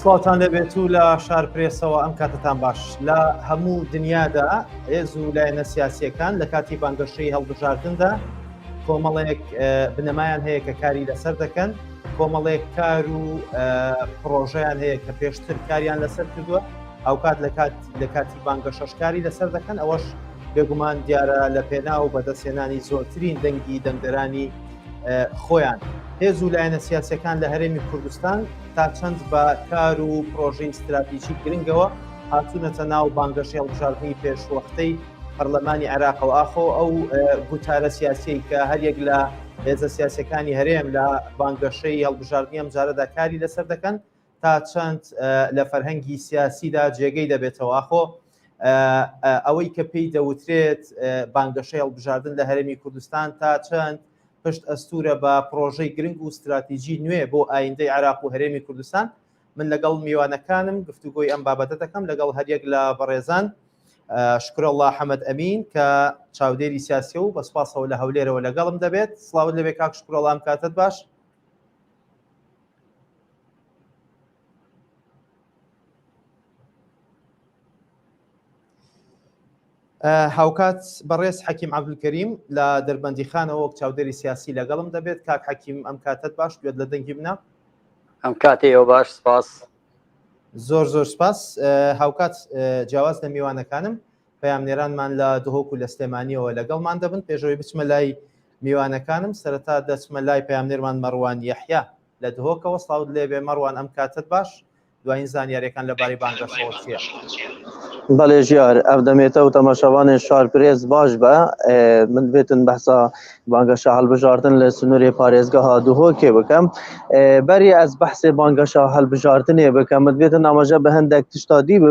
سڵاوتان لەبێت و لە شار پرێسەوە ئەم کاتتان باش لە هەموو دنیادا هێز و لایەنە سیاسیەکان لە کاتی بانگەشەی هەڵبژاردندا کۆمەڵێک بنەمایان هەیە کە کاری لەسەر دەکەن کۆمەڵێک کار و پرۆژیان هەیە کە پێشتر کاریان لەسەر کردووە هاوکات لە کات لە کاتی بانگەشەش کاری لەسەر دەکەن ئەوەش بێگومان دیارە لە پێنا و بەدەستێنانی زۆرترین دەنگی دەنگدەرانی خۆیان هێز و لایەنە سیاسەکان لە هەرێمی کوردستان تا چەند بە کار و پرۆژین ستراتیژی گرنگەوە هاتوونەتە ناو بانگەشی هەڵبژاردنی پێشوەختەی پەرلەمانی عێراقەوە ئاخۆ ئەو گوتارە سیاسی کە هەریەک لە هێزە سیاسەکانی هەرێم لە بانگەشەی هەڵبژاردنی ئەم جارەدا کاری لەسەر دەکەن تا چەند لە فەرهەنگی سیاسیدا جێگەی دەبێتەوە ئاخۆ ئەوەی کە پێی دەوترێت بانگەشەی هەڵبژاردن لە هەرێمی کوردستان تا چەند پشت ئەستورە بە پرۆژەی گرنگ و استراتیژی نوێ بۆ ئایندەی عراق و هەرێمی کوردستان من لەگەڵ میوانەکانم گفتوگۆی ئەم بابەتە دەکەم لەگەڵ هەریەک لە بەڕێزان شکر الله حەمد ئەمین کە چاودێری سیاسی و بەسپاسەوە لە هەولێرەوە لەگەڵم دەبێت سلااو لەبێ کاک شکرۆڵام کاتت باش هاوکات بەڕێز حەکیم عبدکەریم لە دەربەندی خانەوە وەک چاودێری سیاسی لەگەڵم دەبێت کاک حەکیم ئەم کاتت باش دوێت لە دەنگی منە ئەم کاتێ ئەو باش سپاس زۆر زۆر سپاس هاوکات جیاواز لە میوانەکانم پامنێرانمان لە دهۆک و لە سلێمانیەوە لەگەڵمان دەبن پێشەوەی بچمە لای میوانەکانم سەرەتا دەچمە لای پەیامنێرمان مەڕوان یەحیا لە دهۆکەوە سڵاوت لێبێ مەڕوان ئەم کاتەت باش دوایین زانیاریەکان لە بارەی بانگەشەوە چیە؟ بەێ ژیار ئەف دەمێتە و تەماشاوانێ شار پرێز باش بە من بێتن بەسا بانگەشە هەڵبژاردن لە سنووری پارێزگە ها دوهۆکێ بکەم بەری ئەس بەحسێ بانگەشە هەڵبژاردنێ بکەم من بێتن ئاماژە بە هەندێک تشتادی بە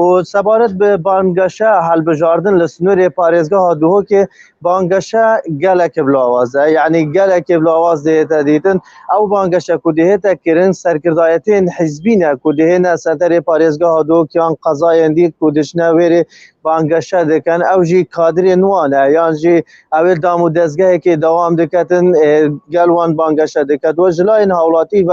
و سەبارەت بە بانگەشە هەلبژاردن لە سنوورێ پارێزگا هادوهۆکێ بانگەشە گەلەکە بلاوازە یعنی گەلەکە بلاواز دێتە دیتن ئەو بانگەشە کو دێتە کرن سەرکردایەتێن حزبینە کو دێنە سەتەرێ پارێزگا هادوۆکیان قەزایەن دیت کو دشنە وێرێ بانگەشە دەکەن ئەو ژی کادرێ نوانە یان ژی ئەوێ دام و دەستگەیەکی داوام دەکەن گەلوان بانگەشە دەکەن وە ژلاین هاوڵاتی و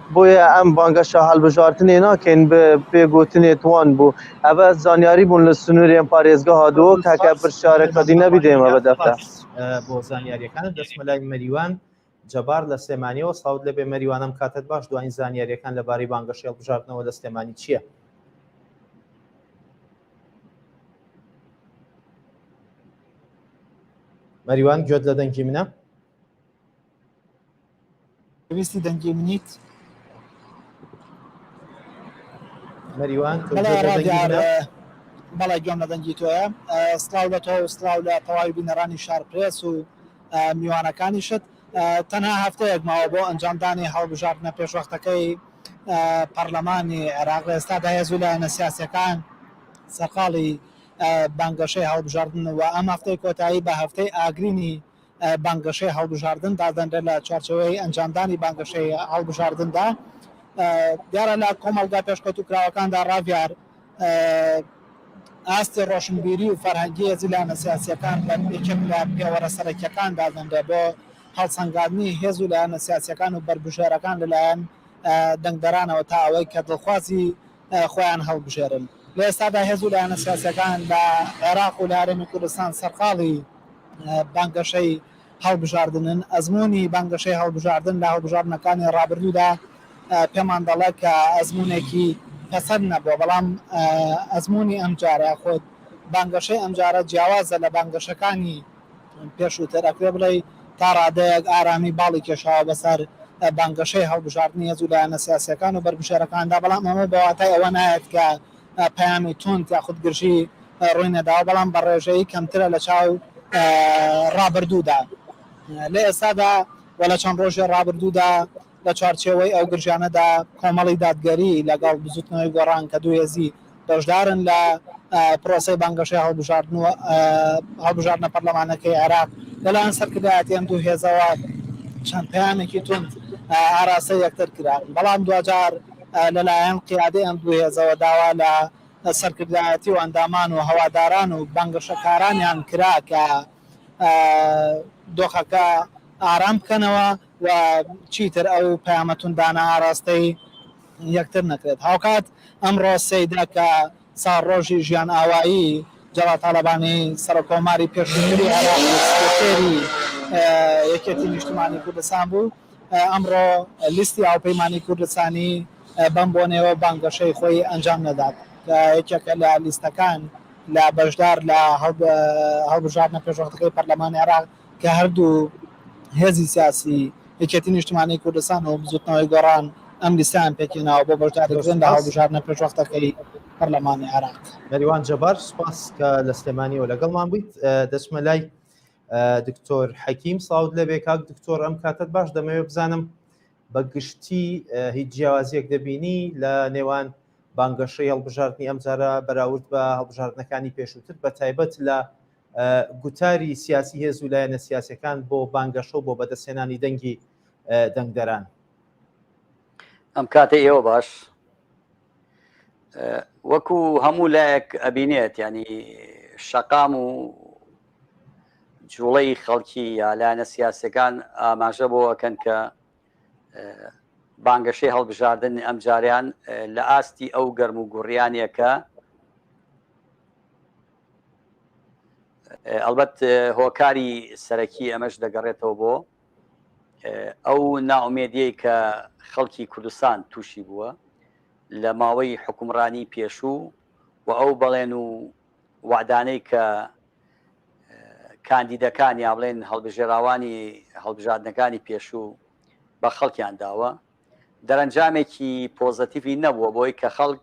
بۆیە ئەم بانگەشە هەڵبژاردنێ ناکەین بە پێ گۆتنێ توان بوو ئەبە زانیاری بوون لە سنوورێن پارێزگەها دۆک هەکە پرشارە کە دینە بیدێمە بە دەفتە. سپاس بۆ زانیاریەکانت دەچمە لای مەریوان جەبار لە سلێمانیەوە سڵاوت لێبێ مەریوان ئەم کاتەت باش دوایین زانیاریەکان لە بارەی بانگەشەی هەڵبژاردنەوە لە سلێمانی چیە؟ مەریوان گوێت لە دەنگی منە؟ پێویستی دەنگی منیت مەریوان بەڵێ گوێم لە دەنگی تۆیە سلااو لە تۆ سلااو لە تەواوی بینەرانی شار پرێس و میوانەکانی شت تەنها هەفتەیەک ماوە بۆ ئەنجامدانی هەڵبژاردنە پێشوەختەکەی پەرلەمانی عێراق ئێستا داهێزوو لە نەسیاسەکان سەرقاڵی بانگەشەی هەڵبژاردن و ئەم هەفتەی کۆتایی بە هەفتەی ئاگرینی بانگەشەی هەڵبژاردن دادەنرێت لە چوارچێوەی ئەنجامدانی بانگەشەی هەڵبژاردندا دیارە لە کۆمەڵگا پێشکەوتوکراوەکاندا ڕاڤیار ئاستی ڕۆشنبیری و فەرهەنگی زیلانە سیاسیەکان لە یەکێک لە پێوەرە سەرەکیەکان دادەنرێت بۆ هەڵسەنگاندنی هێز و لایەنە سیاسیەکان و بەربژێرەکان لەلایەن دەنگدەرانەوە تا ئەوەی کە دڵخوازی خۆیان هەڵبژێرن. لە ئێستادا هێز و لایەنە سیاسییەکان لە عێراق و لە هەرێمی کوردستان سەرقاڵی بانگەشەی هەڵبژاردنن. ئەزموونی بانگەشەی هەڵبژاردن لە هەڵبژاردنەکانی ڕابردوودا پێمان دەڵێت کە ئەزموونێکی پەسەند نەبووە، بەڵام ئەزموونی ئەمجارە یاخود بانگەشەی ئەمجارە جیاوازە لە بانگەشەکانی پێشووتر ئەکرێ بڵێی تا ڕادەیەک ئارامی باڵی کێشاوە بەسەر بانگەشەی هەڵبژاردنی هێزو لایەنە سیاسییەکان و بەربژێرەکاندا، بەڵام ئەمە بە واتای ئەوە نایەت کە پەیامی توند یاخود گرژی ڕووی نەداوە، بەڵام بە ڕێژەی کەمترە لە چاو ڕابردوودا. لە ئێستادا و لە چەند ڕۆژی ڕابردوودا لە چوارچێوەی ئەو گرژیانەدا کۆمەڵی دادگەری لەگەڵ بزوتنەوەی گۆڕان کە دوو هێزی بەشدارن لە پرۆسەی بانگەشەی هەڵبژاردن و هەڵبژاردنە پەرلەمانەکەی عێراق لەلایەن سەرکردایەتی ئەم دوو هێزەوە چەند پەیامێکی توند ئاراستەی یەکتر کران بەڵام دواجار لەلایەن قیادەی ئەم دوو هێزەوە داوا لە سەرکردایەتی و ئەندامان و هەواداران و بانگەشەکارانیان کرا کە دۆخەکە ئارام بکەنەوە. و چیتر ئەو پەیامە توندانە ئاراستەی یەکتر نەکرێت. هاوکات ئەمڕۆ سێیدە کە ساڵڕۆژی ژیانئاوایی جەڵال تاڵەبانی سەرۆککۆماری پێشووتری عێراق و سکرتێری یەکێتی نیشتمانی کوردستان بوو، ئەمڕۆ لیستی هاوپەیمانی کوردستانی بەم بۆنەیەوە بانگەشەی خۆی ئەنجام نەدات کە یەکێکە لە لیستەکان لە بەشدار لە هەڵبژاردنە پێشوەختەکەی پەرلەمانی عێراق. کە هەردوو هێزی سیاسی یەکێتی نیشتمانی کوردستان و بزوتنەوەی گۆڕان ئەم لیستەیان پێکهێناوە بۆ بەشداریکردن لە هەڵبژاردنە پێشوەختەکەی پەرلەمانی عێراق. نەریوان جەبار سوپاس کە لە سلێمانیەوە لەگەڵمان بوویت دەچمە لای دکتۆر حەکیم ساوت لەبێ کاک دکتۆر ئەم کاتت باش دەمەوێت بزانم بە گشتی هیچ جیاوازیەک دەبینی لە نێوان بانگەشەی هەڵبژاردننی ئەم جارە بەراورد بە هەڵبژاردنەکانی پێشووتر بە تایبەت لە گوتاری سیاسی هێز و لایەنە سیاسەکان بۆ بانگەشە و بۆ بەدەستێنانی دەنگی دەنگدەران ئەم کاتە ئێوە باش وەکو هەموو لایەک ئەبینێت ینی شەقام و جوڵەی خەڵکی یا لایەنە سیاسەکان ئاماژە بۆ ئەکەن کە بانگەشەی هەڵبژاردن ئەم جاریان لە ئاستی ئەو گەرم و گوڕیانەکە ئەڵبەت هۆکاری سەرەکی ئەمەش دەگەڕێتەوە بۆ ئەو ناومێدیەی کە خەڵکی کوردستان تووشی بووە لە ماوەی حکومڕانی پێشوو و ئەو بەڵێن و وادانەی کە کاندیدەکان یا بڵێن هەڵبژێراوانی هەڵبژاردنەکانی پێشوو بە خەڵکیان داوە دەرەنجامێکی پۆزەتیڤی نەبووە بۆی کە خەڵک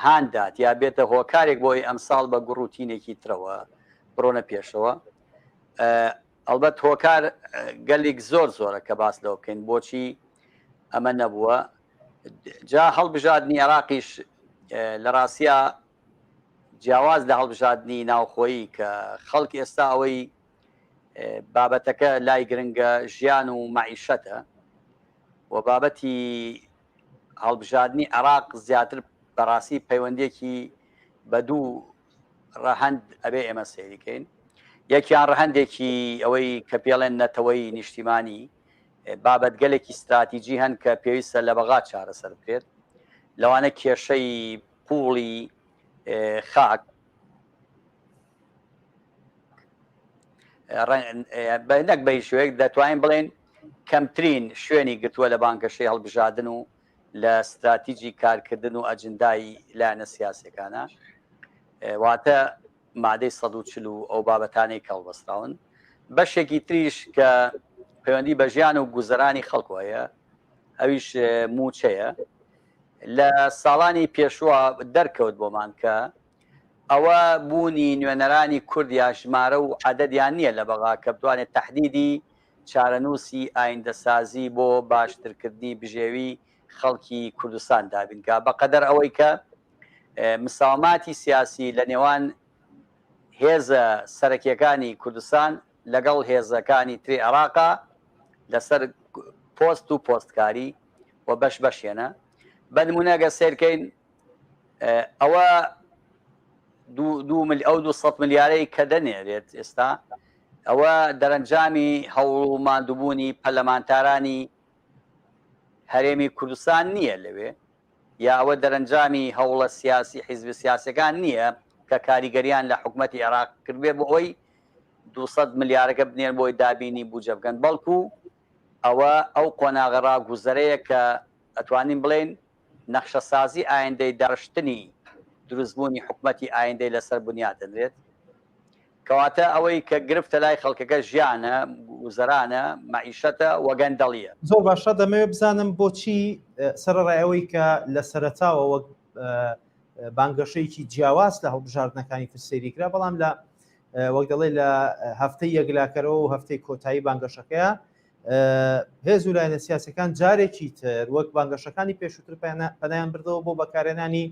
هاندات یا بێتە هۆکارێک بۆی ئەمساڵ بە گوڕوتینێکی ترەوە بڕۆنە پێشەوە ئەڵبەت هۆکار گەلیک زۆر زۆرە کە باس لەوە بکەین بۆچی ئەمە نەبووە جا هەڵبژاردننی عراقیش لە ڕاستە جیاواز لە هەڵبژاردننی ناوخۆیی کە خەڵک ئێستا ئەوەی بابەتەکە لای گرنگە ژیان و مەعیشەتە و بابەتی هەڵبژاردننی عراق زیاتر بەڕاستی پەیوەندێکی بە دوو ڕەهند ئەبێ ئێمە سەیریکەین یەکیان ڕەهندێکی ئەوەی کە پێڵێن نەتەوەی نیشتیمانی بابەتگەلێکی استراتیجی هەن کە پێویستە لە بەغا چارەسەر بکرێت لەوانە کێشەی قوڵی خاک نەک بە هیچ شوێک دەتوانین بڵێن کەمترین شوێنی گرتووە لە بانگەشەی هەڵبژادن و لە استراتیجی کارکردن و ئەجندایی لایەنە سیاسەکانە واتە مادەی 140 و ئەو بابەتانەی کەڵبەستراون بەشێکی تریش کە پەیوەندی بە ژیان و گوزەرانی خەڵکۆیە ئەویش موچەیە لە ساڵانی پێشوە دەرکەوت بۆمان کە ئەوە بوونی نوێنەرانی کورد یا ژمارە و عەدەدیان نییە لە بەغا کە بتوانێت تەحدیدی چارەنووسی ئایندەسازی بۆ باشترکردنی بژێوی خەڵکی کوردستان دابینکا بە قەدەر ئەوەی کە مساوماتی سیاسی لە نێوان هێزە سەرەکیەکانی کوردستان لەگەڵ هێزەکانی تری عێراقا لەسەر پۆست و پۆستکاری و بەش بەشێنە بەنمونەگە سێرکەین ئەوە ئەو دو ملیارەی کە دەنێرێت ئێستا ئەوە دەرەنجامی هەوڵ و مادووبوونی پەلەمانتارانی هەرێمی کوردستان نییە لەوێ یا ئەوە دەرەنجامی هەوڵە سیاسی حیزب سیاسەکان نییە کە کاریگەریان لە حکوومەتتی عێراق کردێ بۆ ئەوی 200 ملیارەکە بنێن بۆی دابینی بجە بگەن بەڵکو ئەوە ئەو قۆناغە ڕاگوزەرەیە کە ئەتوانین بڵێن نەخشەسازی ئایندەی دەڕشتنی دروستبوونی حکومەتی ئایندەی لەسەر بنیات دەنرێت. کەواتە ئەوەی کە گرفتە لای خەڵکەکە ژیانە، گوزەرانە، مەعیشەتە و گەندەڵییە. زۆر باشە، دەمەوێت بزانم بۆچی سەرەڕای ئەوەی کە لە سەرەتاوە وەک بانگەشەیەکی جیاواز لە هەڵبژاردنەکانی تر سەیری کرا، بەڵام لە وەک دەڵێ لە هەفتەی یەکلاکەرەوە و هەفتەی کۆتایی بانگەشەکەیە، هێز و لایەنە سیاسەکان جارێکی تر وەک بانگەشەکانی پێشووتر پەنایان بردەوە بۆ بەکارێنانی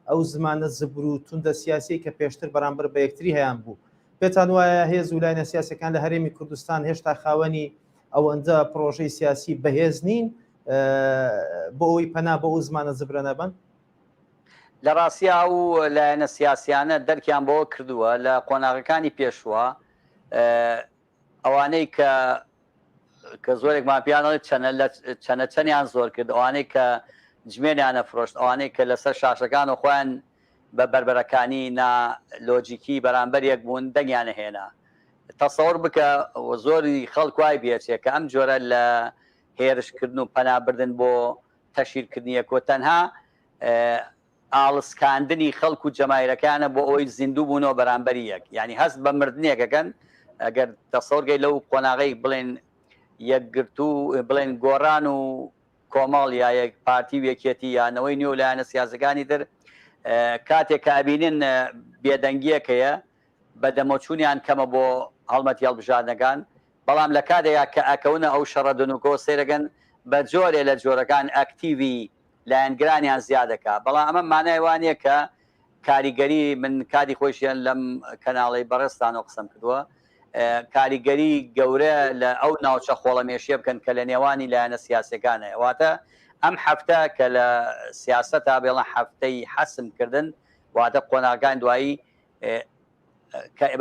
ئەو زمانە زبر و توندە سیاسی کە پێشتر بەرامبەر بە یەکتری هەیان بوو پێتان وایە هێز و لایەنە سیاسەکان لە هەرێمی کوردستان هێشتا خاوەنی ئەوەندە پرۆژەی سیاسی بەهێز نین بۆ ئەوی پەنا بە ئەو زمانە زبرە نەبن لە ڕاستیا ئەو لایەنە سیاسیانە دەرکیان بەوە کردووە لە قۆناغەکانی پێشوە ئەوانەی کە کە زۆرێکمان پێیان دەڵێت چەنە لە چەنە چەنیان زۆر کرد ئەوانەی کە جمێنیانە فرۆشت ئەوانەی کە لەسەر شاشەکان و خۆیان بە بەربەرەکانی نا لۆجیکی بەرامبەر یەک بوون دەنگیانە هێنا تەسەور بکە زۆری خەڵک وای بێچێ کە ئەم جۆرە لە هێرشکردن و پەنابردن بۆ تەشیرکردنیەکۆ تەنها ئاڵسکاندنی خەڵک و جەماهیرەکانە بۆ ئەوەی زیندوو بوونەوە بەرامبەری یەک یانی هەست بە مردنێک ئەکەن ئەگەر تەسەوەڕ کەی لەو قۆناغەی بڵێن یەکگرتوو بڵێن گۆڕان و کۆمەڵ یا یەک پارتی و یەکێتی یا نەوەی نوێ و لایەنە سیاسەکانی تر کاتێک کە ئەبینن بێدەنگیەک هەیە بە دەمەچوونیان کەمە بۆ هەڵمەت هەڵبژاردنەکان بەڵام لە کاتێکا کە ئەکەونە ئەو شەڕە دنوکۆ سێرەگەن بە جۆرێ لە جۆرەکان ئەکتیوی لایەنگرانیان زیادەکا بەڵام ئەمە مانای وا نیە کە کاریگەری من کاتی خۆیشیان لەم کەناڵەی بەڕێزتانەوە قسەم کردوە کاریگەری گەورە لە ئەو ناوچە خۆڵەمێشیە بکەن کە لە نێوانی لایەنە سیاسیەکان هەیە واتە ئەم حەفتە کە لە سیاسەتا بێڵن حەفتەی حەسم کردن واتە قۆناغەکانی دوایی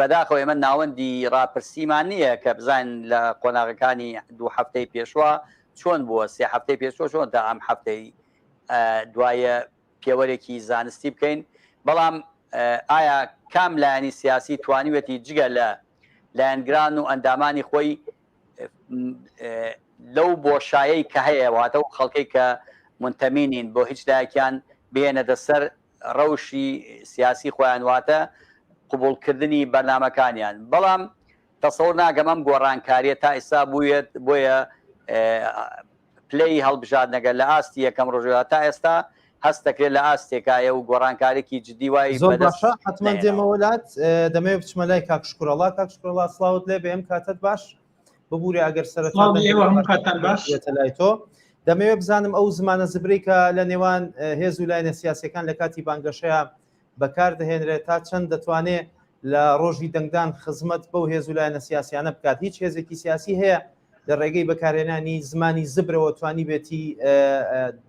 بەداخەوە ئێمە ناوەندی ڕاپرسیمان نییە کە بزان لە قۆناغەکانی دوو هەفتەی پێشوە چۆن بووە سێ هەفتەی پێشوە چۆن تا ئەم هەفتەی دوایە پێوەرێکی زانستی بکەین بەڵام ئایا کام لایەنی سیاسی توانیوەتی جگە لە لایەنگران و ئەندامانی خۆی لەو بۆشایەی کە هەیە واتە و خەڵکەی کە منتەمینین بۆ هیچ لایەکیان بێنە دەسەر ڕەوشی سیاسی خۆیان واتە قبوڵ کردنی بەرنامەکانیان بەڵام تەسەور ناکەم ئەم گۆڕانکاریە تا ئیستا بوویێت بۆیە پلەی هەڵبژاردنەگە لە ئاستی یەکەم ڕژوە تا ئێستا هەست دەکرێت لە ئاستێکایە و گۆڕانکارێکی جدی وای زۆر باشە حتمما دێمە وەلات دەمەوێت بچمە لای کاکشکڕەڵا کاکشکڕڵا سلااوت لێ بێم کاتت باش ببوورە ئەگەر سەرەتان لای تۆ دەمەوێت بزانم ئەو زمانە زبریکە لە نێوان هێز و لایەنە سیاسەکان لە کاتی بانگەشەیە بەکار دەهێنرێت تا چەند دەتوانێت لە ڕۆژی دەنگدان خزمەت بەو هێز و لایەنە سیاسیانە بکات هیچ هێزێکی سیاسی هەیە لە ڕێگەی بەکارێنانی زمانی زبرەوە توانی بێتی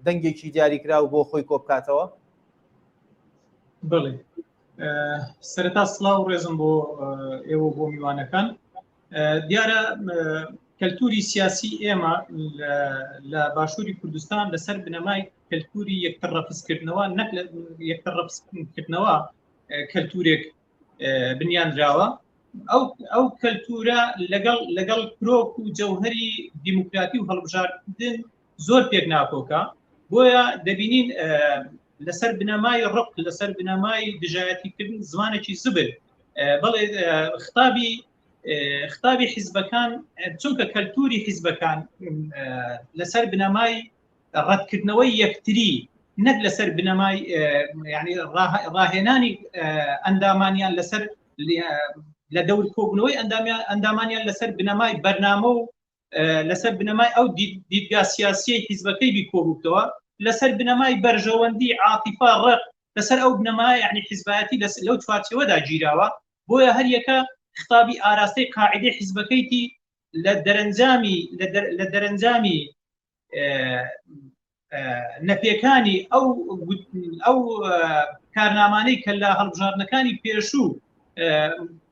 دەنگێکی دیاریکراو بۆ خۆی کۆبکاتەوە بڵێ سەرتا سلااو ڕێزم بۆ ئێوە بۆ میوانەکان دیارە کەلتوری سیاسی ئێمە لە باشووری کوردستان لەسەر بنەمای کەلتوری یەکتر ڕەفزکردنەوە نەک لە یەکتر ڕەفزکردنەوە کەلتورێک بنیانراوە ئەو ئەو کەلتورە لەگەڵ لەگەڵ کرۆک و جەوهری دیموکراتی و هەڵبژاردن زۆر پێک ناکۆکە بۆیە دەبینین لەسەر بنەمای ڕق لەسەر بنەمای دژایەتیکردن زمانێکی زبر بەڵێ خطابی خطابی حیزبەکان چونکە کەلتوری حیزبەکان لەسەر بنەمای ڕەتکردنەوەی یەکتری نەک لەسەر بنەمای ینی ڕاهێنانی ئەندامانیان لەسەر لە دەور کۆبنەوەی ئەندامیان ئەندامانیان لەسەر بنەمای بەرنامە و لەسەر بنەمای ئەو دیدگا سیاسیی حیزبەکەی بیکۆبووتەوە لەسەر بنەمای بەرژەوەندی عاتیفا ڕق لەسەر ئەو بنەما یعنی حیزبایەتی لەس لەو چوارچەوەدا گیراوە بۆیە هەریەکە خطابی ئاراستەی قاعدەی حیزبەکەیتی لە دەرەنجامی لە دەرەنجامی نەپێکانی ئەو ئەو کارنامانەی کە لە هەڵبژاردنەکانی پێشوو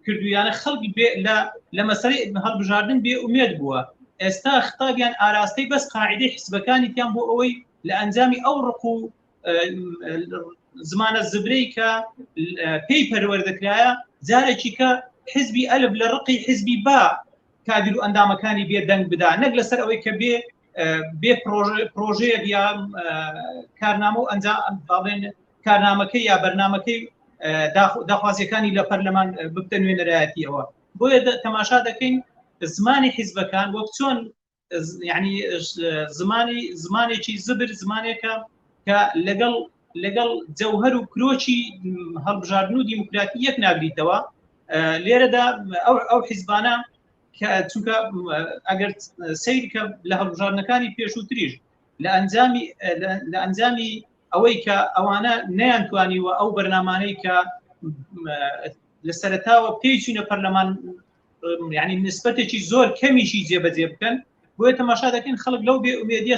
کردویانە خەڵکی لە مەسەری هەڵبژاردن بێ ئومێت بووە ئێستا خطابیان ئاراستەی بەس قاعدەی حزبەکانی تیان بۆ ئەوەی لە ئەنجامی ئەو ڕق و زمانە زبرەی کە پێی پەروەەردەکرایە جارێکی کە حزبی ئەلب لە ڕقی حزبی با کادر و ئەندامەکانی بێ دەنگ بدا نەک لەسەر ئەوەی کە بێ بێ پرۆژەیە یا کارنامە و ئەنجام باڵێن کارنامەکەی یا بەرنمەکەی داخوازیەکانی لە پەرلەمان ببتە نوێنەرایەتیەوە بۆیە تەماشا دەکەین زمانی حیزبەکان وەک چۆن ینی زمانی زمانێکی زبر زمانێکە کە لەگەڵ لەگەڵ جەوهر و کرۆکی هەڵبژاردن و دیموکراتی یەک ناگریتەوە لێرەدا ئەو ئەو حیزبانە کە چونکە ئەگەر سیرکە لە هەڵبژاردنەکانی پێشووتریش لە ئەنجامی لە ئەنجامی ئەوەی کە ئەوانە نەیانتوانی و ئەو بەرنمانەی کە لە سەرتاوە پێچینە پەرلەمان ینی نسبەتێکی زۆر کەمیشی جێبەجێ بکەن بۆیە تەماشا دەکەین خەڵک لەو بێ ئومێدیە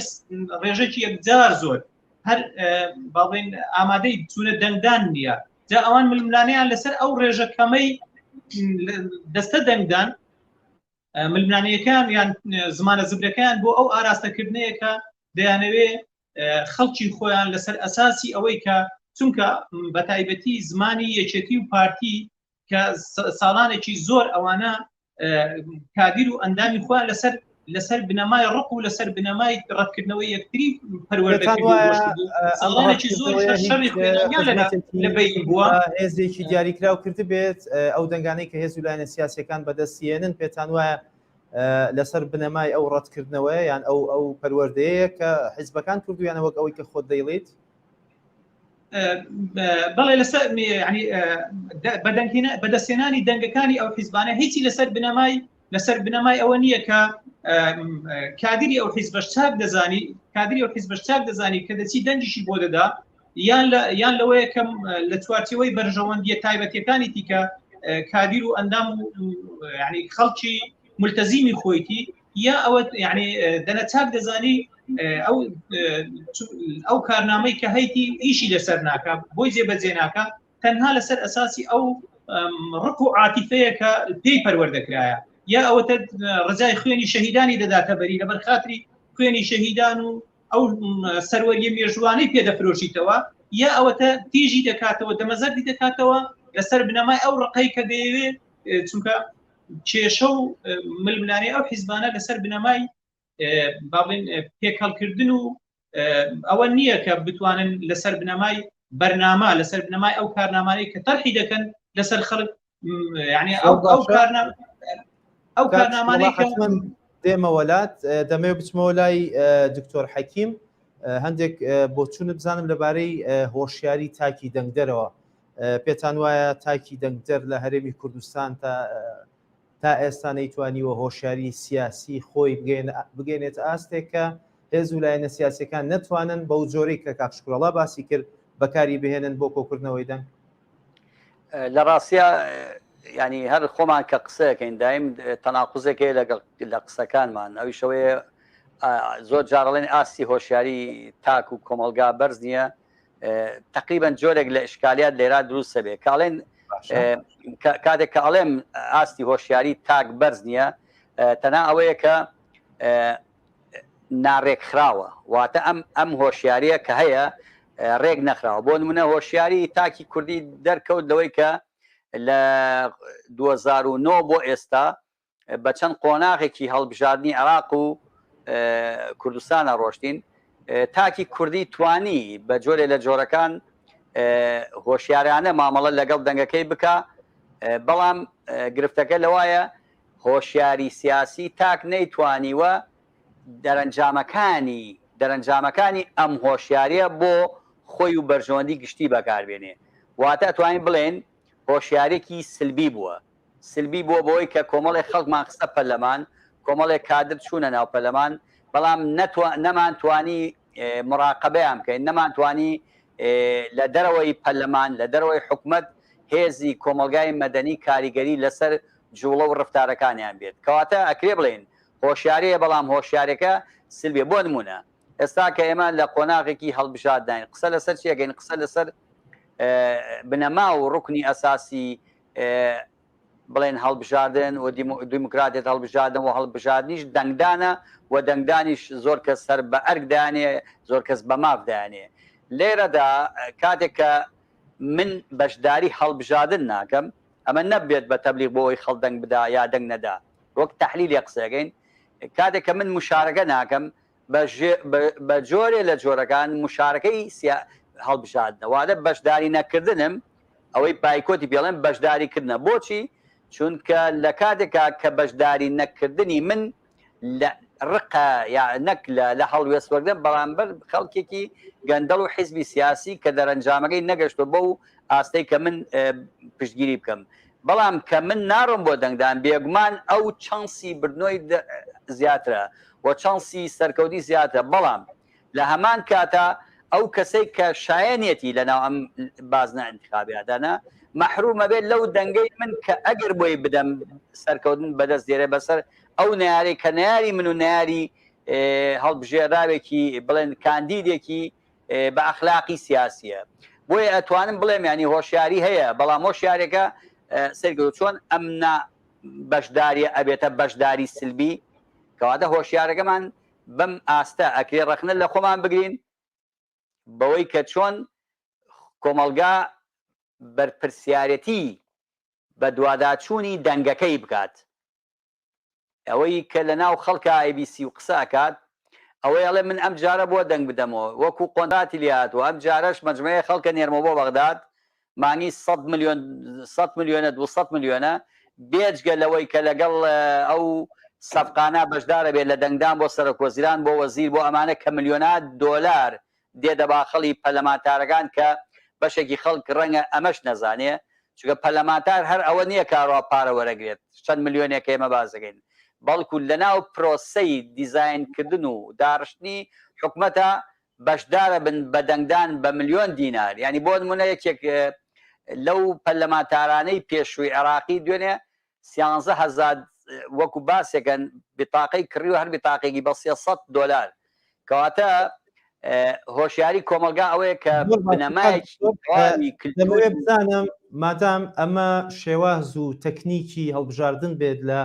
ڕێژەکی یەکجار زۆر هەر باڵێن ئامادەی چونە دەنگدان نییە جا ئەوان ململانیان لەسەر ئەو ڕێژە کەمەی دەستە دەنگدان ململانەکان یان زمانە زبرەکەیان بۆ ئەو ئاراستەکردنەیەکە دەیانەوێ خەڵکی خۆیان لەسەر ئەساسی ئەوەی کە چونکە بە تایبەتی زمانی یەکێتی و پارتی کە ساڵانێکی زۆر ئەوانە کادیر و ئەندامی خۆیان لەسەر لەسەر بنەمای ڕق و لەسەر بنەمای ڕەتکردنەوەی یەکتری پەروەردەێکی زۆر هێزێکی دیاریکراو کرد بێت ئەو دەنگانەی کە هێز و لایەنە سیاسەکان بەدەستیێنن پێتان وایە لەسەر بنەمای ئەو ڕەتکردنەوەیان ئەو ئەو پەروەردەیە کە حیزبەکان کردویانە وەک ئەوەی کە خۆت دەیڵیت بەڵێ لەسەر بەدەستێنانی دەنگەکانی ئەو حیزبانە هیچی لەسەر بنەمای لەسەر بنەمای ئەوە نییە کە کادری ئەو حیزبەش چاک دەزانی کادری ئەو حیزبەش چاک دەزانی کە دەچی دەنگیشی بۆ دەدا یان یان لەوەیە کەم لە چوارچەوەی بەرژەوەندیە تایبەتەکانی تیکە کادیر و ئەندام و خەڵکی ملتەزیمی خۆیتی یا ئەوە یعنی دەنە چاک دەزانی ئەو ئەو کارنامەی کە هەیتی ئیشی لەسەر ناکە بۆی جێبەجێ ناکە تەنها لەسەر ئەساسی ئەو ڕق و عاتیفەیە کە پێی پەروەردەکرایە یا ئەوەتە ڕزای خوێنی شەهیدانی دەداتە بەری لەبەر خااتری خوێنی شەهیدان و ئەو سەروەریە مێژوانەی پێدەفرۆشیتەوە یا ئەوەتە تیژی دەکاتەوە دەمەزەردی دەکاتەوە لەسەر بنەمای ئەو ڕقەی کە دەیەوێ چونکە کێشە و ململانێ ئەو حیزبانە لەسەر بنەمای باڵین پێکهڵکردن و ئەوە نییە کە بتوانن لەسەر بنەمای بەرنامە لەسەر بنەمای ئەو کارنامانەی کە تەرحی دەکەن لەسەر خەڵک ینی ئەو ئەو کارنامانەی دێمە وەلات دەمێ بچمەوە لای دکتۆر حەکیم هەندێک بۆچوونە بزانم لەبارەی هۆشیاری تاکی دەنگدەرەوە پێتان وایە تاکی دەنگدەر لە هەرێمی کوردستان تا تا ئێستا نەیتوانیوە هۆشیاری سیاسی خۆی بگەێنێتە ئاستێک کە هێز و لایەنە سیاسەکان نەتوانن بەو جۆرەی کە کاکشکرۆڵا باسی کرد بەکاری بهێنن بۆ کۆکردنەوەی دەنگ لە ڕاستە ینی هەر خۆمان کە قسەکەین دایم تەناقوزێک هەیە لەگەڵ لە قسەکانمان ئەوی شەوەیە زۆر جاڕڵێن ئاستی هۆشیاری تاک و کۆمەلگا بەرز نییە تقریبان جۆرێک لە ئشکالیات لێرا دروستە بێ کاڵێن کاتێک کە ئەڵێم ئاستی هۆشیاری تاک بەرز نییە تەنا ئەوەیە کە ناڕێک خراوە واتە ئەم ئەم هۆشیاریە کە هەیە ڕێک نەخراوە بۆ منە هۆشیاری تاکی کوردی دەرکەوت لەوەی کە لە 2009 بۆ ئێستا بە چەند قۆناغێکی هەڵبژاردنی عێراق و کوردستانە ڕۆشتین تاکی کوردی توانی بە جۆرێ لە جۆرەکان هۆشیارانە مامەڵە لەگەڵ دەنگەکەی بکە بەڵام گرفتەکە لەوایە هۆشیاری سیاسی تاک نەیتوانیوە دەرەنجامەکانی دەرەنجامەکانی ئەم هۆشیاریە بۆ خۆی و بەرژەوەندی گشتی بەکاربێنێ واتە توانین بڵێن هۆشیارێکی سلبی بووە سلبی بووە بەوەی کە کۆمەڵێک خەڵکمان خستە پەرلەمان، کۆمەڵێک کادر چوونە ناو پەرلەمان، بەڵام نەمانتوانی موراقەبەیان بکەین، نەمانتوانی لە دەرەوەی پەرلەمان، لە دەرەوەی حکومەت هێزی کۆمەڵگای مەدەنی کاریگەری لەسەر جووڵە و رەفتارەکانیان بێت. کەواتە ئەکرێ بڵێین هۆشیارییە، بەڵام هۆشیارییەکە سلبییە. بۆ نموونە ئێستا کە ئێمە لە قۆناغێکی هەڵبژاردناین، قسە لەسەر چی ئەکەین؟ قسە لەسەر بنەما و روکنی ئەساسی بڵێن هەڵبژاردن و دیموکراتێت هەڵبژاردن و هەڵبژاردنیش دەنگدانە و دەنگدانیش زۆر کەس سەر بە ئەرک دانێ زۆر کەس بە ماف دانێ لێرەدا کاتێک کە من بەشداری هەڵبژاردن ناکەم ئەمە نەبێت بە تەبلیغ بۆ ئەوی خەڵ دەنگ بدا یا دەنگ نەدا وەک تحلیل قسەکەین کاتێک کە من مشارەکە ناکەم بە جۆرێ لە جۆرەکان مشارەکەی سیا هەڵبژاردنە وادە بەشداری نەکردنم ئەوەی بایکۆتی پێڵێن بەشداری کردنە بۆچی چونکە لە کاتێکا کە بەشداری نەکردنی من لە ڕقە یا نەک لە هەڵوێست وەردە بەرامبەر خەڵکێکی گەندەڵ و حیزبی سیاسی کە دەرەنجامەکەی نەگەشتۆ بە و ئاستەی کە من پشتگیری بکەم بەڵام کە من ناڕۆم بۆ دەنگدان بێگومان ئەو چانسی بردنۆی زیاترە و چانسی سەرکەوتنی زیاترە بەڵام لە هەمان کاتا ئەو کەسەی کە شایەنیەتی لە ناو ئەم بازنە ئەنتخابیادانە مەحروم ئەبێت لەو دەنگەی من کە ئەگەر بۆی بدەم سەرکەوتن بەدەست دێرێ بەسەر ئەو نەیاری کە نەیاری من و نەیاری هەڵبژێراوێکی بڵێن کاندیدێکی بە ئەخلاقی سیاسیە بۆیە ئەتوانم بڵێم یانی هۆشیاری هەیە بەڵام هۆشیارێکە سەرگەوت چۆن ئەم نا بەشداریە ئەبێتە بەشداری سلبی کەواتە هۆشیارەکەمان بەم ئاستە ئەکرێ ڕەخنە لە خۆمان بگرین بەوەی کە چۆن کۆمەلگا بەرپرسیارەتی بە دواداچوونی دەنگەکەی بکات ئەوەی کە لە ناو خەڵکە ئای بی سی و قسە ئەکات ئەوەی ئەڵێ من ئەم جارە بۆ دەنگ بدەمەوە وەکو قۆنراتی لێهاتوە ئەم جارەش مەجمەیە خەڵکە نێرمە بۆ بەغداد مانی سە ملیۆن سە ملیۆنە دو سە ملیۆنە بێجگە لەوەی کە لەگەڵ ئەو سەفقانە بەشدارە بێت لە دەنگدان بۆ سەرۆک وەزیران بۆ وەزیر بۆ ئەمانە کە ملیۆنات دۆلار دێتە باخەڵی پەرلەمانتارەکان کە بەشێکی خەڵک رەنگە ئەمەش نەزانێ، چونکە پەرلەمانتار هەر ئەوە نییە کە ئەڕوا پارە وەرەگرێت، چەند ملیۆنێک کە ئێمە باس دەکەین، بەڵکو لەناو پرۆسەی دیزاینکردن و داڕشتنی حکومەتە بەشدارەبن بە دەنگدان بە ملیۆن دینار، یانی بۆنمونە یەکێک لەو پەرلەمانتارانەی پێشووی عێراقی دوێنێ سیانزە هەزار وەکو باسێکە بیتاقەی کڕیوە هەر بیتاقێکی بە سێ سەد دۆلار کەواتە هۆشیاری کۆمەلگا ئەوەیە کە بنەمایەکی کلتوری بزانم مادام ئەمە شێواز و تەکنیکی هەڵبژاردن بێت لە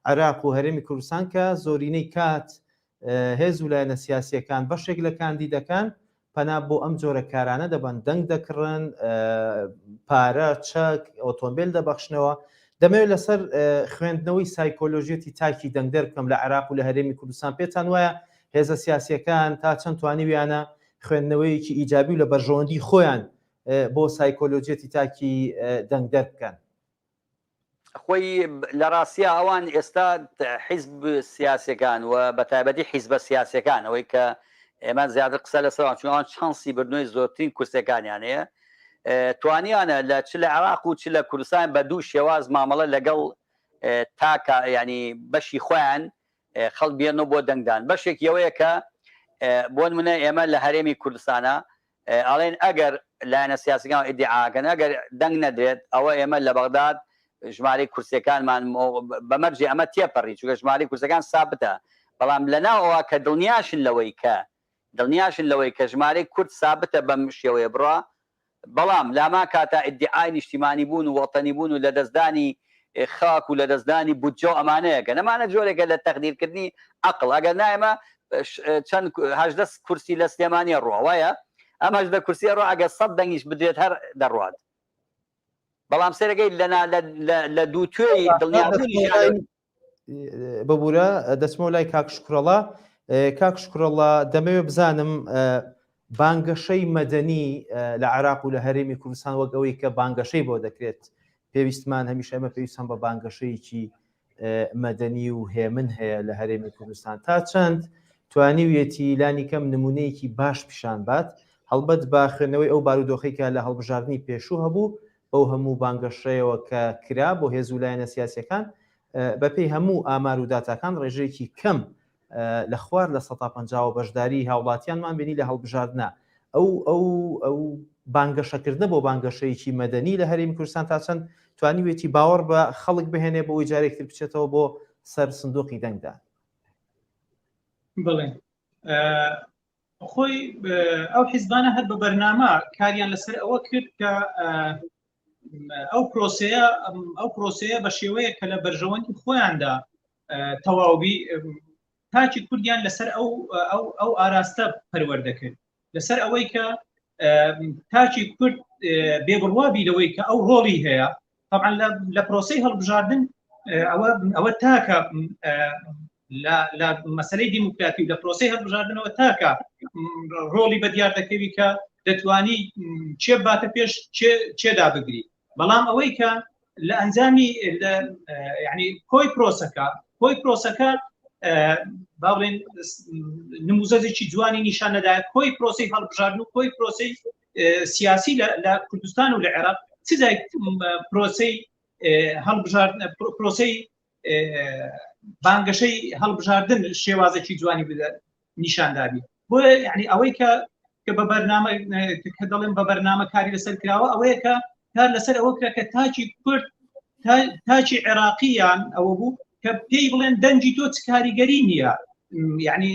عێراق و هەرێمی کوردستان کە زۆرینەی کات هێز و لایەنە سیاسییەکان بەشێک لە کاندیدەکان پەنا بۆ ئەم جۆرە کارانە دەبەن، دەنگ دەکڕن، پارە، چەک، ئۆتۆمبێل دەبەخشنەوە. دەمەوێت لەسەر خوێندنەوەی سایکۆلۆژیەتی تاکی دەنگدەر بکەم لە عێراق و لە هەرێمی کوردستان، پێتان وایە هێزە سیاسییەکان تا چەند توانیویانە خوێندنەوەیەکی ئیجابی و لە بەرژەوەندی خۆیان بۆ سایکۆلۆژیەتی تاکی دەنگدەر بکەن؟ خۆی لە ڕاستیا ئەوان ئێستا حیزب سیاسەکان و بە تایبەتی حیزبە سیاسەکان ئەوەی کە ئێمە زیاتر قسە لە سەروان چونوان چانسی بردنەوەی زۆرترین کورسەکانیان هەیە توانیانە لە چ لە عراق و چ لە کوردستان بە دوو شێواز مامەڵە لەگەڵ تاکە ینی بەشی خۆیان خەڵ بێنەوە بۆ دەنگدان بەشێک یەوەیە کە بۆن منە ئێمە لە هەرێمی کوردستانە ئەڵێن ئەگەر لایەنە سیاسیەکان و ئیدیعاکەن ئەگەر دەنگ نەدرێت ئەوە ئێمە لە بەغداد ژمارەی کورسیەکانمان بە مەرجی ئەمە تێپەڕی چونکە ژمارەی کورسەکان سابتە بەڵام لەناو ئەوە کە دڵنیاشن لەوەی کە دڵنیاشن لەوەی کە ژمارەی کورد سابتە بەم شێوەیە بڕە بەڵام لامان کاتە ئیدیعای نیشتیمانی بوون و وەتەنی بوون و لەدەستدانی خاک و لەدەستدانی بودجە و ئەمانە یەکەن ئەمانە جۆرێکە لە تەقدیرکردنی عەقڵ ئەگەر نا ئێمە چەند هەژدە کورسی لە سلێمانیە ڕوە وایە ئەم هەژدە کورسیە ڕۆ ئەگەر سەد دەنگیش بدرێت هەر دەڕوات بەڵام سێرەگەی لەنا لە دوو توێی دڵنیابوونی ببوورە دەچمەوە لای کاک شکڕەڵا کاک شکڕەڵا دەمەوێ بزانم بانگەشەی مەدەنی لە عێراق و لە هەرێمی کوردستان وەک ئەوەی کە بانگەشەی بۆ دەکرێت پێویستمان هەمیشە ئێمە پێویستمان بە بانگەشەیەکی مەدەنی و هێمن هەیە لە هەرێمی کوردستان تا چەند توانیویەتی لانی کەم نمونەیەکی باش پیشان بات هەڵبەت با خوێندنەوەی ئەو بارودۆخی کە لە هەڵبژاردننی پێشوو هەبوو بەو هەموو بانگەشەیەوە کە کرا بۆ هێز و لایەنە سیاسەکان بەپێی هەموو ئامار و داتاکان ڕێژەیەکی کەم لە خوار لە سەتا پەنجاوە بەشداریی هاوڵاتیانمان بینی لە هەڵبژاردنە، ئەو ئەو ئەو بانگەشەکردنە بۆ بانگەشەیەکی مەدەنی لە هەرێمی کوردستان تا چەند توانیوێتی باوەڕ بە خەڵک بهێنێ بۆ ئەوەی جارێکی تر بچێتەوە بۆ سەر سندوقی دەنگدان؟ بڵێن خۆی ئەو حیزبانە هەر بە بەرنامە کاریان لەسەر ئەوە کرد کە ئەو پرۆسەیە ئەو پرۆسەیە بە شێوەیە کە لە بەرژەوەندی خۆیاندا تەواوبی تاکی کوردیان لەسەر ئەو ئەو ئەو ئاراستە پەروەردەکرد لەسەر ئەوەی کە تاکی کورد بێ بڕوابی لەوەی کە ئەو ڕۆڵی هەیە طبعا لە پرۆسی هەڵبژاردن ئەوە ئەوە تاکە لە مەسلەی دیموکراتی و لە پرۆسی هەڵبژاردنەوە تاکە ڕۆڵی بە دیار دەکەوی کە دەتوانی چێ باتە پێش چێدا بگری بەڵام ئەوەی کە لە ئەنجامی ینی کۆی پرۆسەکە کۆی پرۆسەکە باڵێن نموزەێکی جوانی نیشان نەدا کۆی پرۆسی هەڵبژارد و کۆی پرۆسی سیاسی لە کوردستان و لە عێراق چ پرۆسی هەڵبژارد پرۆسی بانگەشەی هەڵبژاردن شێوازێکی جوانی بدات نیشان دابی بۆ یعنی ئەوەی کە کە بە بەرنامە کە دەڵێن بە بەرنامە کاری لەسەر کراوە ئەوەیە کە کار لەسەر ئەوە کرا کە تاچی کورد تاچی عێراقییان ئەوە بوو کە پێی بڵێن دەنجی تۆ کاریگەری نییە یعنی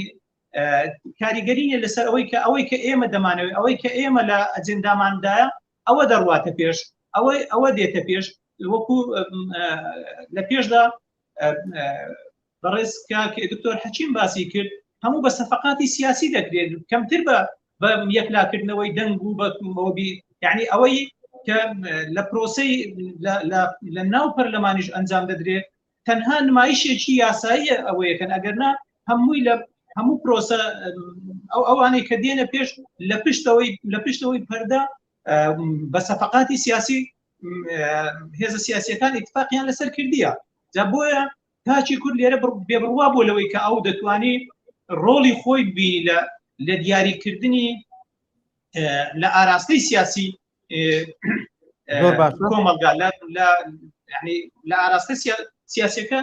کاریگەری نیە لەسەر ئەوەی کە ئەوەی کە ئێمە دەمانەوەی ئەوەی کە ئێمە لە ئەجنداماندایە ئەوە دەڕواتە پێش ئەوەی ئەوە دێتە پێش وەکو لە پێشدا بەڕێز کاک دکتۆر حەچیم باسی کرد هەموو بە سەفقاتی سیاسی دەکرێت کەمتر بە بە یەکلاکردنەوەی دەنگ و بە مۆبی یعنی ئەوەی کە لە پرۆسی لە ناو پەرلەمانیش ئەنجام دەدرێت تەنها نمایشێکی یاساییە ئەوەیەکەن ئەگەرنا هەمووی لە هەموو پرۆسە ئەو ئەوانەی کە دێنە پێش لە پشتەوەی لە پشتەوەی پەردا بە سەفقاتی سیاسی هێزە سیاسیەکان اتفاقیان لەسەر کردیە جا بۆیە تاکی کورد لێرە بێبڕوا بوو لەوەی کە ئەو دەتوانی ڕۆڵی خۆی بی لە لە دیاریکردنی لە ئاراستەی سیاسی کۆمەلگا لە ئاراستە سیاسەکە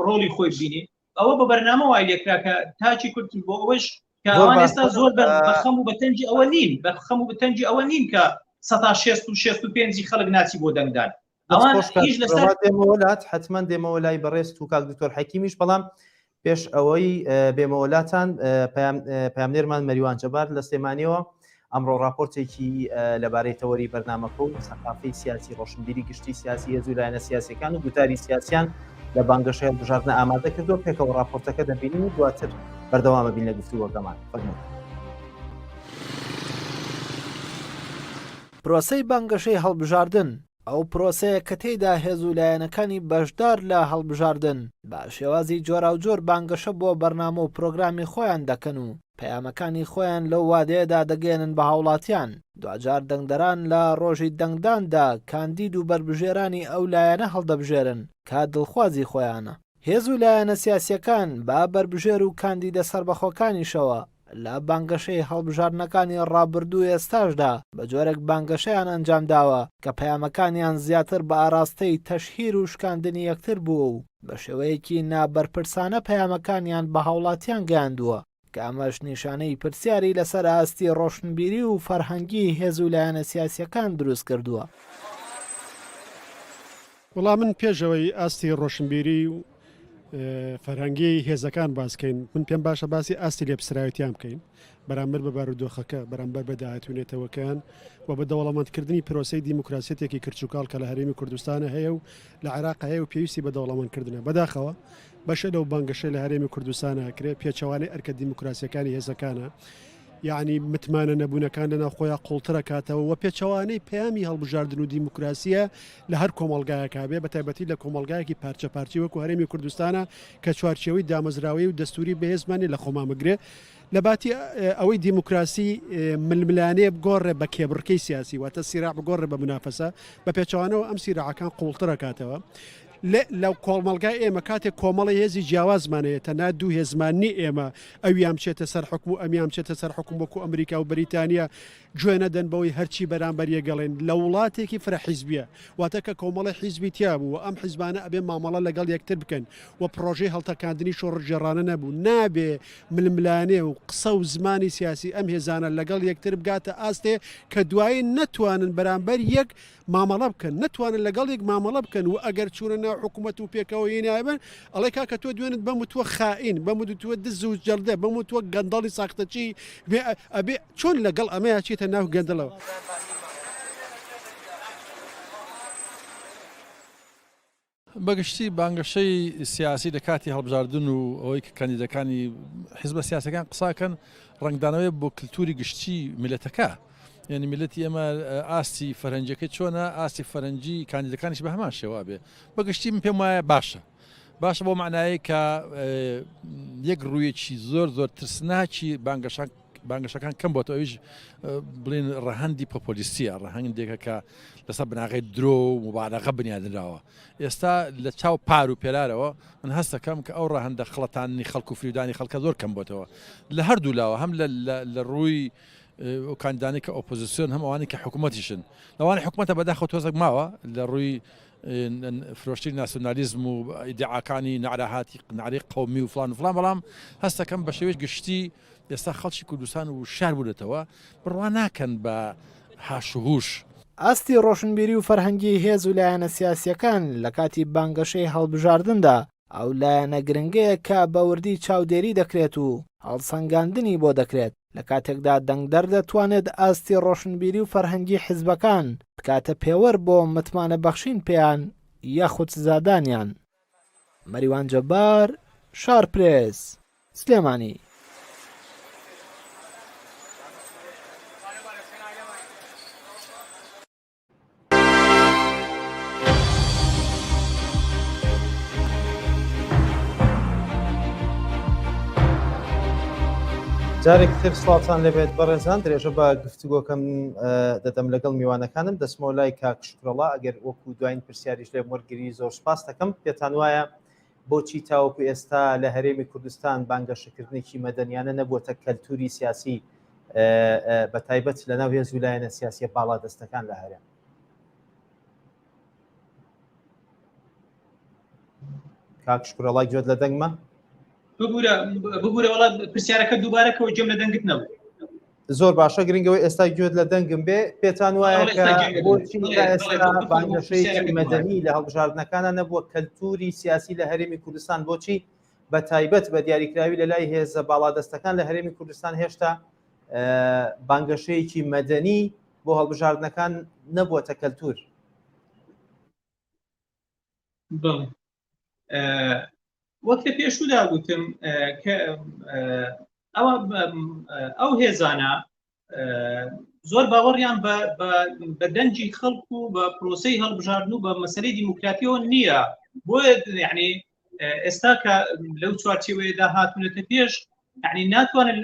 ڕۆڵی خۆی بینی ئەوە بە بەرنامە وای لێکرا کە تاکی کورد بۆ ئەوەش کەوان ئێستا زۆر بەخەم و بەتەنجی ئەوە نین بەخەم و بەتەنجی ئەوە نین کە 16 و 65 خەڵک ناچی بۆ دەنگدان ئەوانلات حتمما دێمەوە لای بەڕێز و کاک دکتۆر حەکیمیش بەڵام پێش ئەوەی بێمەوەلاتان پامنێرمان مەریوان جەبار لە سلێمانیەوە ئەمڕۆ راپۆرتێکی لەبارەی تەوەری بەرنمەکە و سەقافی سیاسی ڕۆشنبیری گشتی سیاسی هێزو لایەنە سیاسەکان و گوتاری سیاسیان لە بانگەشەیە بژاردنە ئامادە کردو پێکەوە راپۆرتەکە دەبینین و دواتر بەردەوامە بین لە گفتووەکەمان فەرمو. پرۆسەی بانگەشەی هەڵبژاردن، ئەو پرۆسەیە کە تێیدا هێز و لایەنەکانی بەشدار لە هەڵبژاردن بە شێوازی جۆراوجۆر بانگەشە بۆ بەرنامە و پرۆگرامی خۆیان دەکەن و پەیامەکانی خۆیان لەو وادەیەدا دەگەیەنن بە هاوڵاتیان، دواجار دەنگدەران لە ڕۆژی دەنگداندا کاندید و بەربژێرانی ئەو لایەنە هەڵدەبژێرن کە دڵخوازی خۆیانە. هێز و لایەنە سیاسییەکان بە بەربژێر و کاندیدە سەربەخۆکانیشەوە لە بانگەشەی هەڵبژاردنەکانی ڕابردوو و ئێستاشدا بە جۆرێک بانگەشەیان ئەنجام داوە کە پەیامەکانیان زیاتر بە ئاراستەی تەشهیر و شکاندنی یەکتر بووە و بە شێوەیەکی نا بەرپرسانە پەیامەکانیان بە هاوڵاتیان گەیاندووە. کە ئەمەش نیشانەی پرسیاری لەسەر ئاستی ڕۆشنبیری و فەرهەنگی هێز و لایەنە سیاسیەکان دروست کردووە. وەڵا من پێش ئەوەی ئاستی ڕۆشنبیری و فەرهەنگی هێزەکان باسکەین من پێم باشە باسی ئاستی لێپسراویتیان بکەین بەرامبەر بە بارودۆخەکە بەرامبەر بە داهاتونێتەوەکان و بە دەوڵەمەندکردنی پرۆسی دیموکراسیەتێکی کرچوکاڵ کە لە هەرێمی کوردستانە هەیە و لە عێراق هەیە و پێویستی بە دەوڵەمەندکردنە بەداخەوە بەشێ لەو بانگەشەی لە هەرێمی کوردستان ئەکرێ پێچەوانەی ئەرکە دیموکراسیەکانی هێزەکانە یعنی متمانە نەبوونەکان لە ناوخۆیان قوڵترەکاتەوە و پێچەوانەی پەیامی هەڵبژاردن و دیموکراسیە لە هەر کۆمەلگایەکە بێ بە تایبەتی لە کۆمەلگایەکی پارچە پارچی وەکو هەرێمی کوردستانە کە چوارچەوەی دامەزراوی و دەستوری بەهێزمانی لە خۆمامەگرێ لە باتی ئەوەی دیموکراسی ململانێ بگۆڕێ بە کێبڕکەی سیاسی واتە سیرا بگۆڕێ بە منافەسە بە پێچوانەوە ئەم سیراعەکان قوڵترەکاتەوە لە لە کۆڵمەڵگای ئێمە کاتێک کۆمەڵی هێزی جیاوازمان هەیە تەنها دوو هێزمان نی ئێمە ئەویان بچێتە سەر حکوم و ئەمیان بچێتە سەر حکوم وەکو ئەمریکا و بریتانیا گوێ نەدەن بەوەی هەرچی بەرامبەر یەگەڵێن لە وڵاتێکی فرە حیزبیە واتە کە کۆمەڵی حیزبی تیا بوو و ئەم حیزبانە ئەبێ مامەڵە لەگەڵ یەکتر بکەن و پڕۆژەی هەڵتەکاندنی شۆڕشگێڕانە نەبوو نابێ ململانێ و قسە و زمانی سیاسی ئەم هێزانە لەگەڵ یەکتر بگاتە ئاستێ کە دوایی نەتوانن بەرامبەر یەک مامەڵە بکەن نەتوانن لەگەڵ یەک مامەڵە بکەن و ئەگەر چوونە ناو حکوومەت و پێکەوە یەی نایبەن ئەڵێ کاکە تۆ دوێنت بەم وتووە خائین بەم وتووە دز و جەردە بەم وتووە گەندەڵی ساختەچی بێ ئەبێ چۆن لەگەڵ ئەمەیا چێتە ناو گەندەڵەوە. بەگشتی بانگەشەی سیاسی لە کاتی هەڵبژاردن و ئەوەی کە کاندیدەکانی حزبە سیاسەکان قساکەن ڕنگدانەوەی بۆ کللتوری گشتی میلەتەکە یعنی میلەتی ئێمە ئاستی فەرەنجەکەی چۆنە ئاستی فەرەنجی کاندیدەکانیش بە هەمان شێوا بێ بەگشتی من پێم وایە باشە باشە بۆ معناایی کە یەک ڕوویەکی زۆر زۆر ترسناکی بانگەشان بانگەشەکان کەم بۆتەوە ئەویش بڵین ڕەهەندی پۆپۆلیستیە ڕەهەنگێکە کە لەسەر بناغی درۆ و مبارەقە بنیادراوە ئێستا لە چاو پار و پێرارەوە من هەستەکەم کە ئەو ڕەهندە خڵەتانی خەڵک و فریودانی خەڵکە زۆر کەم بۆتەوە لە هەردوو لاوە هەم لە ڕووی کاندانی کە ئۆپۆزیسیۆن هەم ئەوانی کە حکوومەتیشن لەوانی حکوومەتە بەداخە تۆزەک ماوە لە ڕووی فرۆشتی ناسیۆنالیزم و دیعاکانی نعرەهاتی ناری قومی و فلان و فلان بەڵام هەستەکەم بە شێوەی گشتی ئێستا خەڵکی کوردستان ووشیار بوونەتەوە، بڕوا ناکەن بە هاش و هوش. ئاستی ڕۆشنبیری و فەرهەنگی هێز و لایەنە سیاسییەکان لە کاتی بانگەشەی هەڵبژاردندا ئەو لایەنە گرنگەیە کە بە وردی چاودێری دەکرێت و هەڵسەنگاندنی بۆ دەکرێت، لە کاتێکدا دەنگدەر دەتوانێت ئاستی ڕۆشنبیری و فەرهەنگی حزبەکان بکاتە پێوەر بۆ متمانە بەخشین پێیان یاخود سزادانیان. مەریوان جەبار، شارپرێس، سلێمانی. جارێکی تر سڵاوتان لێبێت بەڕێزان درێژە بە گفتوگۆکەم دەدەم لەگەڵ میوانەکانم دەچمەوە لای کاک وەڵا ئەگەر وەکو دواین پرسیاریش لێم وەرگری زۆر سوپاستەکەم پێتان وایە بۆچی تاوەکو ئێستا لە هەرێمی کوردستان بانگەشەکردنێکی مەدەنیانە نەبووەتە کەلتوری سیاسی بە تایبەت لە ناو هێز و لایەنە سیاسیە باڵا دەستەکان لە هەرێم کاکشکرەڵای گوێت لە دەنگمە ببورە ببورە وڵا پرسیارەکە دووبارەکەەوە جم لە دەنگت نەبوو زۆر باشە گرنگەوە ئێستا گوێت لە دەنگم بێ پێتان وایە بۆچی مەدەنی لە هەڵبژاردنەکانە نەبووە کەلتوری سیاسی لە هەرێمی کوردستان بۆچی بە تایبەت بە دیاریکراوی لە لای هێزە باڵادەستەکان لە هەرێمی کوردستان هێشتا بانگەشەیەکی مەدەنی بۆ هەڵبژاردنەکان نەبووە کەلتور وەک لە پێشودا گوتم ئەوە ئەو هێزانە زۆر باوەڕیان بە دەنجی خەڵک و بە پرۆسی هەڵبژاردن و بە مەسلەی دیموکراتیەوە نییە بۆیە یعنی ئێستا کە لەو چوارچێوەیەدا هاتونەتە پێش یعنی ناتوانن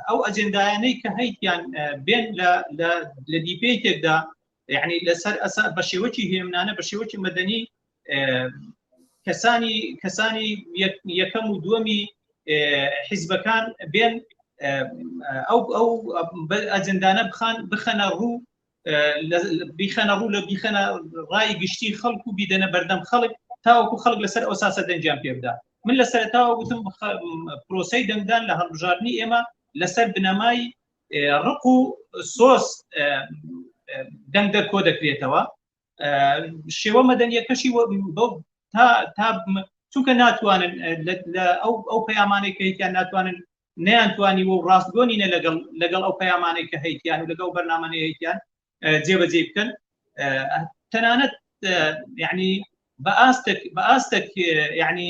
ئەو ئەجندایانەی کە هەیتیان بێن لە دیپێکێکدا یعنی لەسەر ئەسا بە شێوەکی هێمنانە بە شێوەکی مەدەنی کەسانی کەسانی یەکەم و دووەمی حیزبەکان بێن ئەو ئەو ئەجندانە بخان بخەنە ڕوو بیخەنە ڕوو لە بیخەنە ڕای گشتی خەڵک و بیدەنە بەردەم خەڵک تاوەکو خەڵک لەسەر ئەو ساسە دەنجیان پێبدا من لە سەرتاوە وتم پرۆسی دەنگدان لە هەڵبژاردننی ئێمە لەسەر بنەمای ڕق و سۆس دەنگ دەر کۆ دەکرێتەوە شێوە مەدەنیەکەشی تا چونکە ناتوانن ئەو پەیامانەی کەیتیان ناتوانن نیانتوانی و ڕاستگۆنینە لەگەڵ لەگەڵ ئەو پەیامانەی کە هەیتیان و لەگەڵ بەرنامەی هەیتیان جێبەجێ بکەن تەنانەت یعنی بە ئاستێک بە ئاستێک یعنی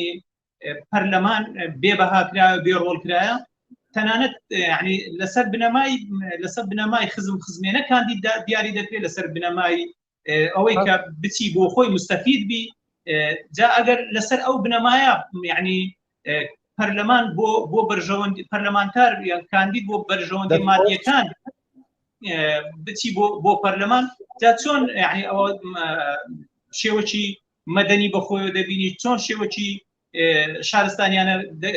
پەرلەمان بێ بەها کرا بێ ڕۆڵ کرایە تەنانەت ینی لەسەر بنەمای لەسەر بنەمای خزم خزمێنە کاندیدا دیاری دەکرێت لەسەر بنەمای ئەوەی کە بچی بۆ خۆی مستەفید بی جا ئەگەر لەسەر ئەو بنەمایە یعنی پەرلەمان بۆ بۆ بەرژەوەند پەرلەمانتار یان کاندید بۆ بەرژەوەندی مادیەکان بچی بۆ بۆ پەرلەمان جا چۆن یعنی ئەوە شێوەی مەدەنی بە خۆیەوە دەبینی چۆن شێوەکی شارستانیانە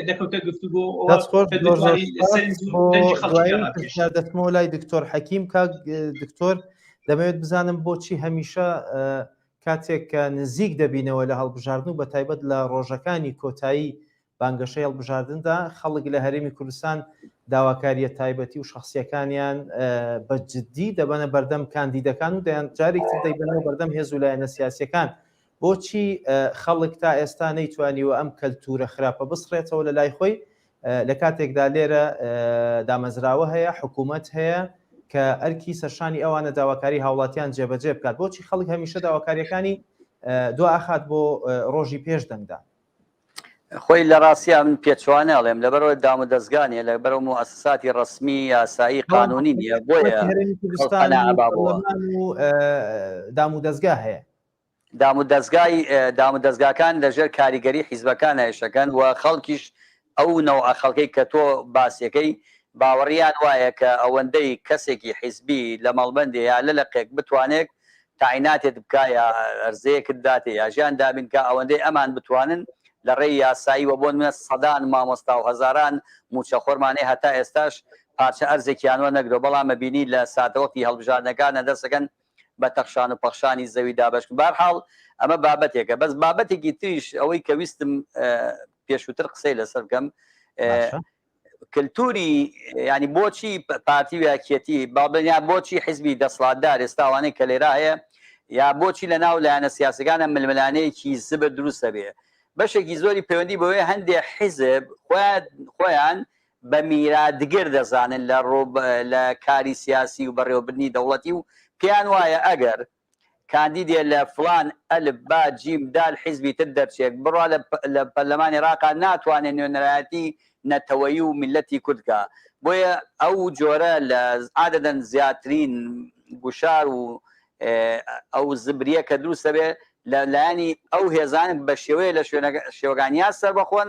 دەکەوتە گفتوگۆ دەستمەوە لای دکتۆر حەکیم کاک دکتۆر دەمەوێت بزانم بۆچی هەمیشە کاتێک کە نزیک دەبینەوە لە هەڵبژاردن و بە تایبەت لە ڕۆژەکانی کۆتایی بانگەشەی هەڵبژاردندا، خەڵک لە هەرێمی کوردستان داواکارییە تایبەتی و شەخسییەکانیان بە جددی دەبەنە بەردەم کاندیدەکان و دەیان جارێکی تر دەیبەنەوە بەردەم هێز و لایەنە سیاسییەکان. بۆچی خەڵک تا ئێستا نەیتوانیوە ئەم کەلتوورە خراپە بسڕێتەوە لە لای خۆی، لە کاتێکدا لێرە دامەزراوە هەیە، حکوومەت هەیە کە ئەرکی سەرشانی ئەوانە داواکاریی هاوڵاتیان جێبەجێ بکات؟ بۆچی خەڵک هەمیشە داواکارییەکانی دوا ئەخات بۆ ڕۆژی پێش دەنگدان؟ خۆی لە ڕاستیا من پێچوانە ئەڵێم لەبەرەوەی دام و دەزگا نیە لەبەرەو موئەسساتی ڕەسمی یاسایی قانونی نیە بۆیە هەرێمی کوردستان و پەرلەمان و دام و دەزگا هەیە دام و دەزگای دام و دەزگاکان لەژێر کاریگەری حیزبەکان هەیشەکەن و خەڵکیش ئەو نەوعە خەڵکەی کە تۆ باسیەکەی باوەڕیان وایە کە ئەوەندەی کەسێکی حیزبی لە مەڵبەندێ یا لە لقێک بتوانێت تاعیناتێت بکا یا ئەرزەیەکت داتێ یا ژیان دابین کا ئەوەندەی ئەمان بتوانن لەڕێی یاسایی وە بۆ نمونە سەدان مامۆستاو هەزاران موچە خۆرمان هەیە هەتا ئێستاش پارچە ئەرزێکیان وە نەگرەوە بەڵام ئەبینی لە ساتەوەختی هەڵبژاردنەکانە دەسەکەن بە تەخشان و پەخشانی زەوی دابەشکن بەهەرحاڵ ئەمە بابەتێکە بەس بابەتێکی تریش ئەوەی کە ویستم پێشوتر قسەی لەسەر بکەم کلتوری ینی بۆچی پارتی ویاکیەتی باڵبنیا بۆچی حزبی دەسڵاتدار ئێستاوانەی کە لێرا هەیە یا بۆچی لە ناو لایەنە سیاسەکانە ململانەیەکی زبر دروست دەبێ بەشێکی زۆری پەیوەندی بەوەیە هەندێک حیزب خۆیان بە میراتگر دەزانن لە ڕۆ لە کاری سیاسی و بەڕێوەبرنی دەوڵەتی و پێیان وایە ئەگەر کاندیدێ لە فڵان ئەلف با جیم دال حیزبی تر دەرچێک بڕا لە پەرلەمان ئێراقا ناتوانێ نوێنەرایەتی نەتەوەیی و میللەتی کورد کا بۆیە ئەو جۆرە لە عادەدەن زیاترین گوشار و ئەو زبریە کە دروست دەبێ لە لایەنی ئەو هێزانە بە شێوەیە لە شوێنەکە شێوەکان یا سەربەخۆن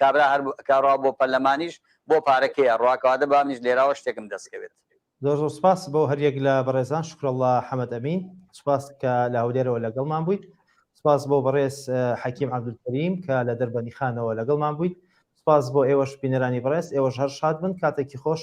کابرا هەر کا ڕا بۆ پەرلەمانیش بۆ پارە کێیە ڕا کەواتە با منیش لێراوە شتێکم دەست کەوێت. زۆر زۆر سوپاس بۆ هەر یەک لە بەڕێزان شکراللە حەمەد ئەمین سوپاس کە لە هەولێرەوە لەگەڵمان بوویت سوپاس بۆ بەڕێز حەکیم عەبدولکەریم کە لە دەربەندیخانەوە لەگەڵمان بوویت سوپاس بۆ ئێوەش بینەرانی بەڕێز ئێوەش هەر شاد بن کاتێکی خۆش